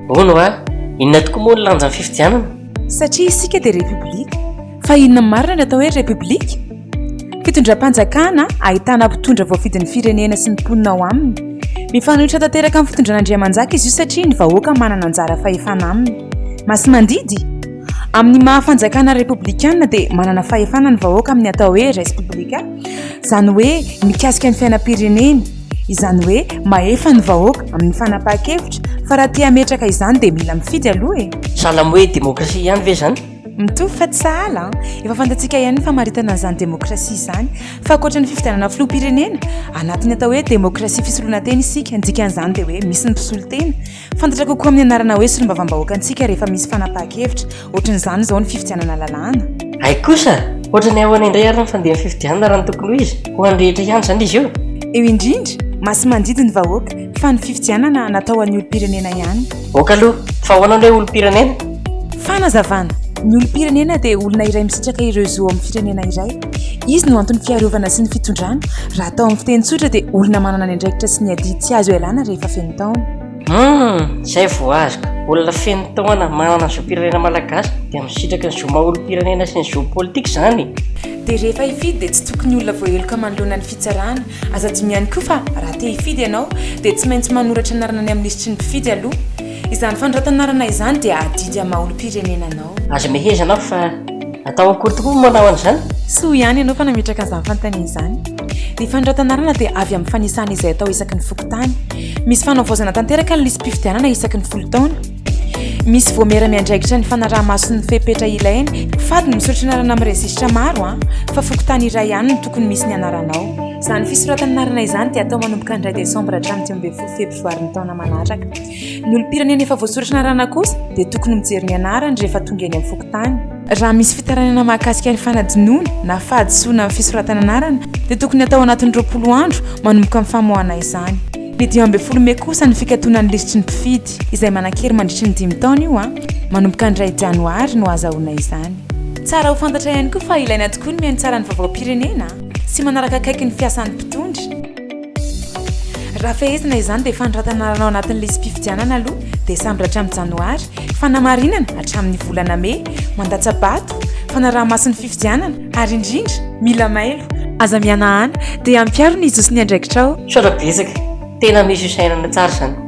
Hono hoa, inona tokoa moa ny lanjan'ny fifidianana? Satria isika dia Repoblika. Fa inona marina ny atao hoe Repoblika? Fitondram-panjakana ahitana mpitondra voafidin'ny firenena sy ny mponina ao aminy. Mifanohitra tanteraka amin'ny fitondran'Andriamanjaka izy io satria ny vahoaka manana anjara fahefana aminy. Masimandidy? Amin'ny maha fanjakana repoblikana dia manana fahefana ny vahoaka amin'ny atao hoe res publica, izany hoe mikasika ny fiainam-pirenena. Izany hoe mahefa ny vahoaka amin'ny fanapahan-kevitra fa raha te hametraka izany dia mila mifidy aloha e! Sahala amin'ny hoe demokrasia ihany ve izany? Mitovy fa tsy sahala an! Efa fantatsika ihany ny famaritana an'izany demokrasia izany fa ankoatra ny fifidianana filoham-pirenena, anatin'ny atao hoe demokrasia fisolonan-tena isika, ny dikan'izany dia hoe misy ny mpisolo tena. Fantatra kokoa amin'ny anarana hoe Solombavambahoaka antsika rehefa misy fanapahan-kevitra, ohatran'izany izao ny fifidianana lalàna. Hay kosa! Ohatran'ny ahoana indray ary ny fandehan'ny fifidianana raha ny tokony ho izy? Ho an'ny rehetra ihany izany izy io? Eo indrindra, masi-mandidy ny vahoaka, fa ny fifidianana natao ho an'ny olom-pirenena ihany. Ok aloha, fa ahoana ny hoe olom-pirenena? Fanazavana, Ny olom-pirenena dia olona iray misitraka ireo zo ao amin'ny firenena iray. Izy no anton'ny fiarovana sy ny fitondrana. Raha atao amin'ny fiteny tsotra dia olona manana ny andraikitra sy ny adidy tsy azo ialana rehefa feno taona. Hum, izay vao azoko. Olona feno taona manana ny zom-pirenena malagasy dia misitraka ny zo maha-olom-pirenena sy ny zo politika izany. Dia rehefa hifidy dia tsy tokony olona voaheloka manoloana ny fitsarana. Aza adino ihany koa fa raha te hifidy ianao dia tsy maintsy manoratra anarana any amin'ny lisitry ny mpifidy aloha. Izany fandroatan'arana izany dia adidy amin'ny maha-olom-pirenena anao. Aza mehezana aho fa atao akory tokoa moa manao an'izany? Soa ihany ianao fa nametraka an'izany fanontaniana izany. Ny fandroatan'arana dia avy amin'ny fanisana izay atao isaky ny fokontany. Misy fanavaozana tanteraka ny lisi-pifidianana isaky ny folo taona. Misy voamera miandraikitra ny fanaraha-maso ny fepetra ilaina. Fady ny misoratra anarana amin'ny rejisitra maro an! fa fokontany iray ihany no tokony misy ny anaranao. Izany fisoratan'anarana izany dia atao manomboka ny iray desambra hatramin'ny dimy ambin'ny folo febroary ny taona manaraka. Ny olom-pirenena efa voasoratra anarana kosa dia tokony mijery ny anarany rehefa tonga eny amin'ny fokontany. Raha misy fitarainana mahakasika ny fanadinoana na fahadisoana amin'ny fisoratana anarana dia tokony hatao anatin'ny roapolo andro manomboka ny famoahana izany. Ny dimy ambin'ny folo mey kosa ny fikatonan'ny lisitry ny mpifidy, izay manan-kery mandritry ny dimy taona io an! Manomboka ny iray janoary no hahazahoana izany. Tsara ho fantatra ihany koa fa ilaina tokoa ny mihaino tsara ny vaovaom-pirenena sy manaraka akaiky ny fiasan'ny mpitondra. Raha fehezina izany dia fanoratana lalao anatin'ny lisi-pifidianana aloha dia sambatra hatramin'ny janoary, fanamarinana hatramin'ny volana mey, mandatsa-bato, fanaraha-maso ny fifidianana ary indrindra mila mailo. Aza mihanahana dia ampiaro ny zo sy ny andraikitrao. Misaotra betsaka. Tena misy fisainana tsara izany.